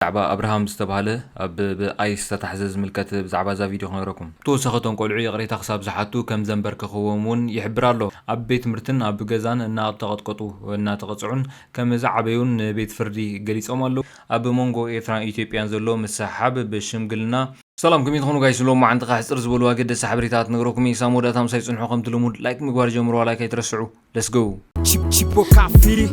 ብዛዕባ ኣብርሃም ዝተባህለ ኣብ ብ ice ዝተታሕዘ ዝምልከት ብዛዕባ እዛ ቪድዮ ክነግረኩም። ብተወሳኺ እቶም ቆልዑ ይቕሬታ ክሳብ ዝሓቱ ከም ዘምበርከኽዎም እውን ይሕብር ኣሎ። ኣብ ቤት ትምህርትን ኣብ ገዛን እናተቐጥቀጡ እናተቐጽዑን ከም ዝዓበዩን ንቤት ፍርዲ ገሊጾም ኣለዉ። ኣብ መንጎ ኤርትራን ኢትዮጵያን ዘሎ ምስሕሓብ ብሽምግልና። ሰላም ከመይ ትኾኑ ጋይስ ሎሚ መዓንቲ ከኣ ሕጽር ዝበሉ ኣገደስቲ ሓበሬታታት ክነግረኩም እየ ክሳብ መወዳእታ ምሳይ ጽንሑ ከምቲ ልሙድ ላይክ ምግባር ጀምርዋ ላይክ ኣይትረስዑ let's go። Chip Chipoca Firi.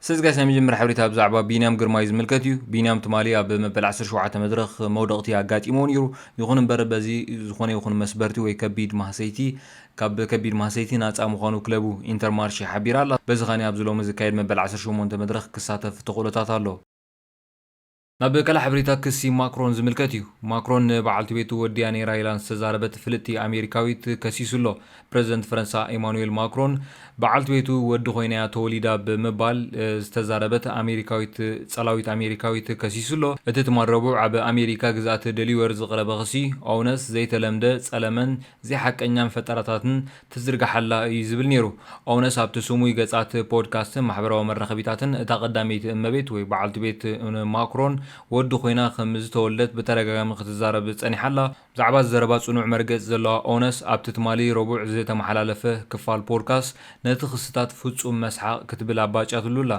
ሰዚ ጋይስ ናይ መጀመርያ ሓበሬታ ብዛዕባ ቢንያም ግርማይ ዝምልከት እዩ። ቢንያም ትማሊ ኣብ መበል ዓሰርተ ሸውዓተ መድረኽ መውደቕቲ ኣጋጢምዎ ነይሩ። ይኹን እምበር በዚ ዝኾነ ይኹን መስበርቲ ወይ ከቢድ ማህሰይቲ ካብ ከቢድ ማህሰይቲ ናጻ ምዃኑ ክለቡ ኢንተርማርሼ ሓቢራ ኣላ። በዚ ከኣ ኣብዚ ሎሚ ዝካየድ መበል ዓሰርተ ሸሞንተ መድረኽ ክሳተፍ ተኽእሎታት ኣሎ። ናብ ቀለዕ ሕብሪታ ክሲ ማክሮን ዝምልከት እዩ። ማክሮን ንበዓልቲ ቤቱ ወዲያ ነይራ ኢላ ንዝተዛረበት ፍልጥቲ ኣሜሪካዊት ከሲሱ ኣሎ። ፕረዚደንት ፈረንሳ ኤማኑዌል ማክሮን በዓልቲ ቤቱ ወዲ ኮይና'ያ ተወሊዳ ብምባል ዝተዛረበት ኣሜሪካዊት ጸላዊት ኣሜሪካዊት ከሲሱ ኣሎ። እቲ ትማል ረቡዕ ኣብ ኣሜሪካ ግዝኣት ደሊወር ዝቕረበ ክሲ ኦውነስ ዘይተለምደ ጸለመን ዘይሓቀኛን ፈጠራታትን ትዝርግሓላ እዩ ዝብል ነይሩ። ኦውነስ ኣብቲ ስሙይ ገጻት ፖድካስትን ማሕበራዊ መራኸቢታትን እታ ቀዳመይቲ እመቤት ወይ በዓልቲ ቤት ማክሮን ወዲ ኮይና ከም ዝተወልደት ብተደጋጋሚ ክትዛረብ ጸኒሓ ኣላ። ብዛዕባ ዘረባ ጽኑዕ መርገጺ ዘለዋ ኦውነስ ኣብቲ ትማሊ ረቡዕ ዝተመሓላለፈ ክፋል ፖድካስት ነቲ ክስታት ፍጹም መስሓቕ ክትብል ኣባጭያትሉ ኣላ።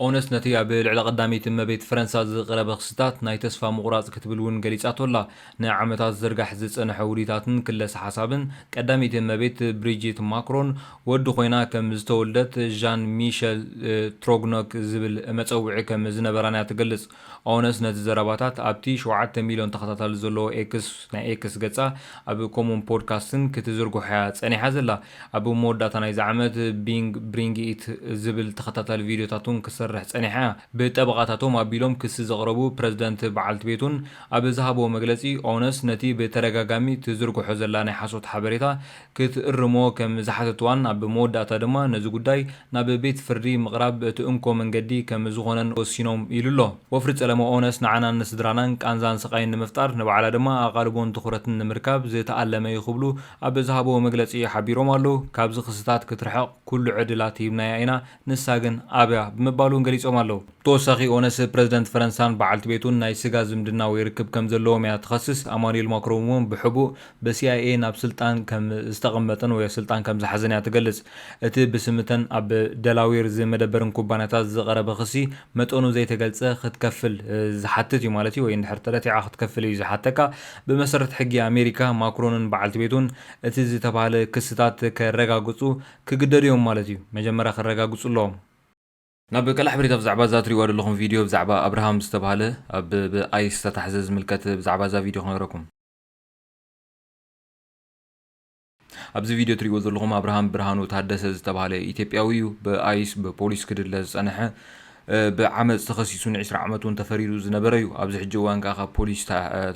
ኦነስት ነቲ ኣብ ልዕሊ ቀዳመይቲ እመቤት ፈረንሳ ዝቐረበ ክስታት ናይ ተስፋ ምቑራጽ ክትብል እውን ገሊጻቶ ኣላ። ንዓመታት ዝዝርጋሕ ዝጸንሐ ውዲታትን ክለሳ ሓሳብን፣ ቀዳመይቲ እመቤት ብሪጂት ማክሮን ወዲ ኮይና ከም ዝተወልደት ዣን ሚሸል ትሮግኖክ ዝብል መጸውዒ ከም ዝነበራን'ያ ትገልጽ። ኦነስ ነዚ ዘረባታት ኣብቲ ሸውዓተ ሚልዮን ተኸታታሊ ዘለዎ ኤክስ፣ ናይ ኤክስ ገጻ፣ ኣብ ኮሙን ፖድካስትን ክትዝርግሖ'ያ ጸኒሓ ዘላ። ኣብ መወዳእታ ናይዚ ዓመት Bing Bring It ዝብል ተኸታታሊ ቪድዮታት'ውን ክትሰርሕ ጸኒሓ'ያ። ብጠበቓታቶም ኣቢሎም ክሲ ዘቕረቡ ፕረዚደንት በዓልቲ ቤቱን ኣብ ዝሃብዎ መግለጺ፣ ኦነስ ነቲ ብተደጋጋሚ ትዝርግሖ ዘላ ናይ ሓሶት ሓበሬታ ክትእርሞ ከም ዝሓተትዋን ኣብ መወዳእታ ድማ ነዚ ጉዳይ ናብ ቤት ፍርዲ ምቕራብ እቲ እንኮ መንገዲ ከም ዝኾነን ወሲኖም ኢሉ'ሎ። ወፍሪ ጸለመ ኦነስ ንዓናን ንስድራናን ቃንዛን ስቓይን ንምፍጣር ንባዕላ ድማ ኣቓልቦን ትኹረትን ንምርካብ ዝተኣለመ'ዩ ክብሉ ኣብ ዝሃብዎ መግለጺ ሓቢሮም ኣለው። ካብዚ ክስታት ክትርሕቕ ኩሉ ዕድላት ሂብናያ ኢና፣ ንሳ ግን ኣብያ ብምባል እውን ገሊጾም ኣለዉ። ብተወሳኺ ኦነስ ፕረዚደንት ፈረንሳን በዓልቲ ቤቱን ናይ ስጋ ዝምድና ወይ ርክብ ከም ዘለዎም እያ ትኸስስ። ኣማኑኤል ማክሮን እውን ብሕቡእ ብሲኣይኤ ናብ ስልጣን ከም ዝተቐመጠን ወይ ስልጣን ከም ዝሓዘን እያ ትገልጽ። እቲ ብስም እተን ኣብ ደላዌር ዝመደበርን ኩባንያታት ዝቐረበ ክሲ መጠኑ ዘይተገልጸ ክትከፍል ዝሓትት እዩ ማለት እዩ ወይ እንድሕር ተረቲዓ ክትከፍል እዩ ዝሓተካ። ብመሰረት ሕጊ ኣሜሪካ ማክሮንን በዓልቲ ቤቱን እቲ ዝተባህለ ክስታት ከረጋግጹ ክግደዱ እዮም ማለት እዩ መጀመርያ ከረጋግጹ ኣለዎም። ናብ ቀላዕ ሕበሬታ ብዛዕባ እዛ ትሪእዋ ደለኹም ቪድዮ ብዛዕባ ኣብርሃም ዝተብሃለ ኣብ ብ ice ዝተታሕዘ ዝምልከት ብዛዕባ እዛ ቪድዮ ክነግረኩም። ኣብዚ ቪድዮ ትሪእዎ ዘለኹም ኣብርሃም ብርሃኑ ታደሰ ዝተብሃለ ኢትዮጵያዊ እዩ ብ ice ብ ፖሊስ ክድለ ዝጸነሐ ብ ዓመጽ ተኸሲሱ ን ዕስራ ዓመት ውን ተፈሪዱ ዝነበረ እዩ ኣብዚ ሕጂ እዋን ከኣ ካብ ፖሊስ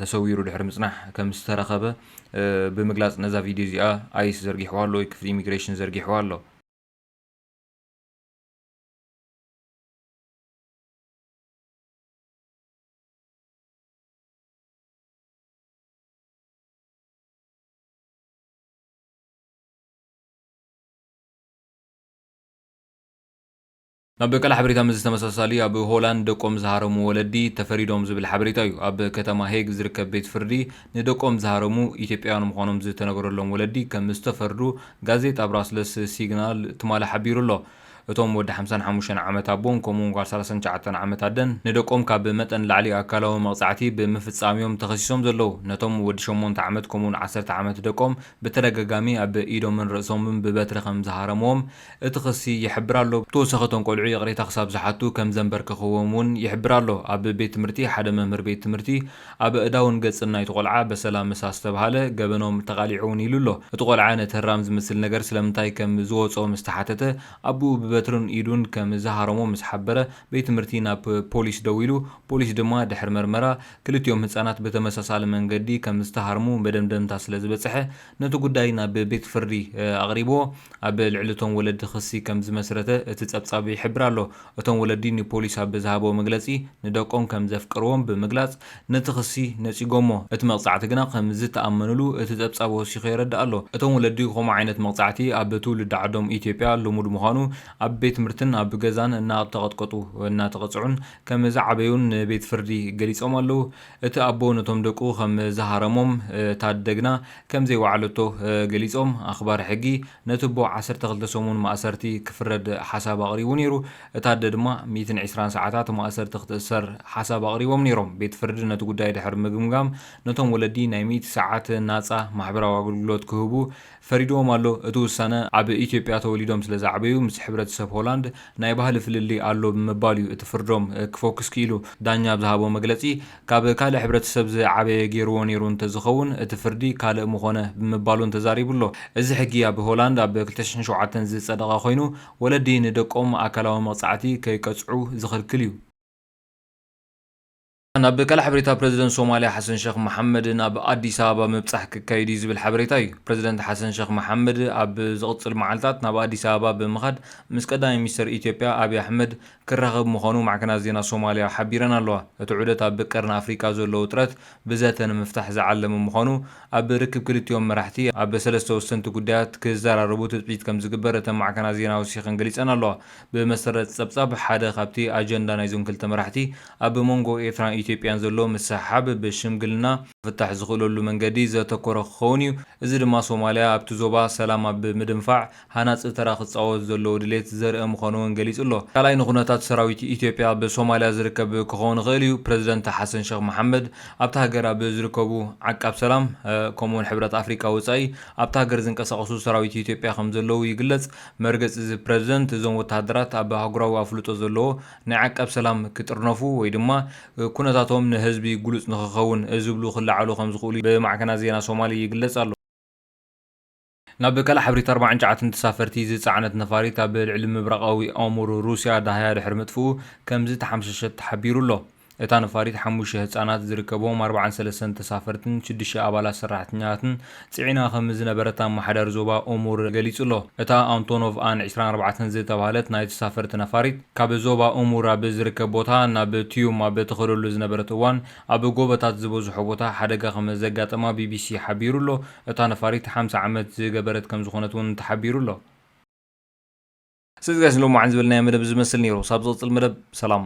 ተሰዊሩ ድሕሪ ምጽናሕ ከም ዝተረኸበ ብምግላጽ ነዛ ቪድዮ እዚኣ ኣይስ ዘርጊሕዋ ኣሎ ወይ ክፍሊ ኢሚግሬሽን ዘርጊሕዋ ኣሎ። ኣብ ቀል ሓበሬታ ምስዚ ተመሳሳሊ ኣብ ሆላንድ ደቆም ዝሃረሙ ወለዲ ተፈሪዶም ዝብል ሓበሬታ እዩ። ኣብ ከተማ ሄግ ዝርከብ ቤት ፍርዲ ንደቆም ዝሃረሙ ኢትዮጵያውያን ምዃኖም ዝተነገረሎም ወለዲ ከም ዝተፈርዱ ጋዜጣ ብራስለስ ሲግናል ትማሊ ሓቢሩ ኣሎ። እቶም ወዲ ሓምሳን ሓሙሽተን ዓመት ኣቦን ከምኡ'ውን ጓል ሰላሳን ትሽዓተን ዓመት ኣደን ንደቆም ካብ መጠን ንላዕሊ ኣካላዊ መቕጻዕቲ ብምፍጻም'ዮም ተኸሲሶም ዘለዉ። ነቶም ወዲ ሸሞንተ ዓመት ከምኡ'ውን ዓሰርተ ዓመት ደቆም ብተደጋጋሚ ኣብ ኢዶምን ርእሶምን ብበትሪ ከም ዝሃረምዎም እቲ ክሲ ይሕብር ኣሎ። ብተወሳኺ እቶም ቆልዑ ይቕሬታ ክሳብ ዝሓቱ ከም ዘምበርክኽዎም እውን ይሕብር ኣሎ። ኣብ ቤት ትምህርቲ ሓደ መምህር ቤት ትምህርቲ ኣብ ኣእዳውን ገጽን ናይቲ ቆልዓ በሰላ ምስ ኣስተብሃለ ገበኖም ተቓሊዖ እውን ኢሉ ኣሎ። እቲ ቆልዓ ነቲ ህራም ዝመስል ነገር ስለምንታይ ከም ዝወጽኦ ምስ ተሓተተ ኣቡኡ ብበትርን ኢዱን ከም ዝሃረሞ ምስ ሓበረ ቤት ትምህርቲ ናብ ፖሊስ ደዊሉ ፖሊስ ድማ ድሕሪ መርመራ ክልቲኦም ህጻናት ብተመሳሳሊ መንገዲ ከም ዝተሃርሙ መደምደምታ ስለ ዝበጽሐ ነቲ ጉዳይ ናብ ቤት ፍርዲ ኣቕሪብዎ ኣብ ልዕሊ እቶም ወለዲ ክሲ ከም ዝመስረተ እቲ ጸብጻብ ይሕብር ኣሎ። እቶም ወለዲ ንፖሊስ ኣብ ዝሃብዎ መግለጺ ንደቆም ከም ዘፍቅርዎም ብምግላጽ ነቲ ክሲ ነጺጎሞ። እቲ መቕጻዕቲ ግና ከም ዝተኣመንሉ እቲ ጸብጻብ ወሲኹ የረድእ ኣሎ። እቶም ወለዲ ከምኡ ዓይነት መቕጻዕቲ ኣብ ትውልዲ ዓዶም ኢትዮጵያ ልሙድ ምዃኑ ኣብ ቤት ትምህርትን ኣብ ገዛን እናተቐጥቀጡ እናተቐጽዑን ከም ዝዓበዩን ንቤት ፍርዲ ገሊጾም ኣለዉ። እቲ ኣቦ ነቶም ደቁ ከም ዝሃረሞም እታ ኣደግና ከም ዘይወዓለቶ ገሊጾም። ኣኽባር ሕጊ ነቲ ኣቦ ዓሰርተ ክልተ ሰሙን ማእሰርቲ ክፍረድ ሓሳብ ኣቕሪቡ ነይሩ። እታ ኣደ ድማ ሚእትን ዕስራን ሰዓታት ማእሰርቲ ክትእሰር ሓሳብ ኣቕሪቦም ነይሮም። ቤት ፍርዲ ነቲ ጉዳይ ድሕሪ ምግምጋም ነቶም ወለዲ ናይ ሚእቲ ሰዓት ናጻ ማሕበራዊ ኣገልግሎት ክህቡ ፈሪድዎም ኣሎ። እቲ ውሳነ፣ ኣብ ኢትዮጵያ ተወሊዶም ስለ ዝዓበዩ ምስ ሕብረተሰብ ሆላንድ ናይ ባህሊ ፍልልይ ኣሎ ብምባል እዩ እቲ ፍርዶም ክፎክስ ክኢሉ። ዳኛ ኣብ ዝሃቦ መግለጺ፣ ካብ ካልእ ሕብረተሰብ ዝዓበየ ገይርዎ ነይሩ እንተዝኸውን እቲ ፍርዲ ካልእ ምኾነ ብምባል'ውን ተዛሪቡ ኣሎ። እዚ ሕጊ ኣብ ሆላንድ ኣብ ክልተ ሽሕን ሸውዓተን ዝጸደቐ ኮይኑ፣ ወለዲ ንደቆም ኣካላዊ መቕጻዕቲ ከይቀጽዑ ዝኽልክል እዩ። ናብ ቃል ሓበሬታ ፕረዚደንት ሶማልያ ሓሰን ሸኽ መሓመድ ናብ ኣዲስ ኣበባ ምብጻሕ ክካየድ እዩ ዝብል ሓበሬታ እዩ። ፕረዚደንት ሓሰን ሸኽ መሓመድ ኣብ ዝቕጽል መዓልታት ናብ ኣዲስ ኣበባ ብምኻድ ምስ ቀዳማይ ሚኒስተር ኢትዮጵያ ኣብይ ኣሕመድ ክራኸብ ምዃኑ ማዕከናት ዜና ሶማልያ ሓቢረን ኣለዋ። እቲ ዑደት ኣብ ቀርኒ ኣፍሪቃ ዘሎ ውጥረት ብዘተ ንምፍታሕ ዝዓለመ ምዃኑ ኣብ ርክብ ክልቲኦም መራሕቲ ኣብ ሰለስተ ወሰንቲ ጉዳያት ክዘራረቡ ትጽቢት ከም ዝግበር እተን ማዕከናት ዜና ወሲኸን ገሊጸን ኣለዋ። ብመሰረት ጸብጻብ ሓደ ካብቲ ኣጀንዳ ናይዞም ክልተ መራሕቲ ኣብ መንጎ ኤርትራን ኢትዮጵያን ዘሎ ምስሕሓብ ብሽምግልና ክፍታሕ ዝኽእለሉ መንገዲ ዘተኮረ ክኸውን እዩ፣ እዚ ድማ ሶማልያ ኣብቲ ዞባ ሰላም ኣብ ምድንፋዕ ሃናጺ ተራ ክጻወት ዘለዎ ድሌት ዘርኢ ምዃኑ'ውን ገሊጹ ኣሎ። ካልኣይ ንኩነታት ሰራዊት ኢትዮጵያ ኣብ ሶማልያ ዝርከብ ክኸውን ይኽእል እዩ፣ ፕረዚደንት ሓሰን ሸኽ መሓመድ ኣብታ ሃገር ኣብ ዝርከቡ ዓቃብ ሰላም ከምኡ'ውን ሕብረት ኣፍሪቃ ወጻኢ ኣብታ ሃገር ዝንቀሳቐሱ ሰራዊት ኢትዮጵያ ከምዘለዉ ይግለጽ፣ መርገጺ'ዚ ፕረዚደንት እዞም ወተሃደራት ኣብ ኣህጉራዊ ኣፍልጦ ዘለዎ ናይ ዓቃብ ሰላም ክጥርነፉ ወይ ድማ ኩነታቶም ንህዝቢ ግሉጽ ንክኸውን ዝብሉ ክለዓሉ ከምዝኽእሉ ብማዕከናት ዜና ሶማሊ ይግለጽ ኣሎ። ናብ ካልእ ሓበሬታ ኣርባዓን ጨዓትን ተሳፈርቲ ዝጸዓነት ነፋሪት ኣብ ልዕሊ ምብራቓዊ ኦሙር ሩስያ ዳህያ ድሕሪ ምጥፍኡ ከምዝተሓምሸሸት ተሓቢሩ ኣሎ። እታ ነፋሪት ሓሙሽተ ህጻናት ዝርከብዎም ኣርብዓን ሰለስተን ተሳፈርትን ሽዱሽተ ኣባላት ሰራሕተኛታትን ጽዒና ከምዝነበረት ኣመሓዳሪ ዞባ ኦሙር ገሊጹ'ሎ። እታ ኣንቶኖቭ ኣን ዕስራን ኣርባዕተን ዝተባህለት ናይ ተሳፈርቲ ነፋሪት፣ ካብ ዞባ ኦሙር ኣብ ዝርከብ ቦታ ናብ ትዩም ኣብ እትኸደሉ ዝነበረት እዋን ኣብ ጎቦታት ዝበዝሖ ቦታ ሓደጋ ከምዘጋጠማ ቢቢሲ ሓቢሩ'ሎ። እታ ነፋሪት ሓምሳ ዓመት ዝገበረት ከምዝኾነት'ውን ተሓቢሩ'ሎ። ሰዚ ጋሽ ንሎሚ መዓልቲ ዝበልናዮ መደብ እዚ ዝመስል ነይሩ ሳብ ዝቅጽል መደብ ሰላም።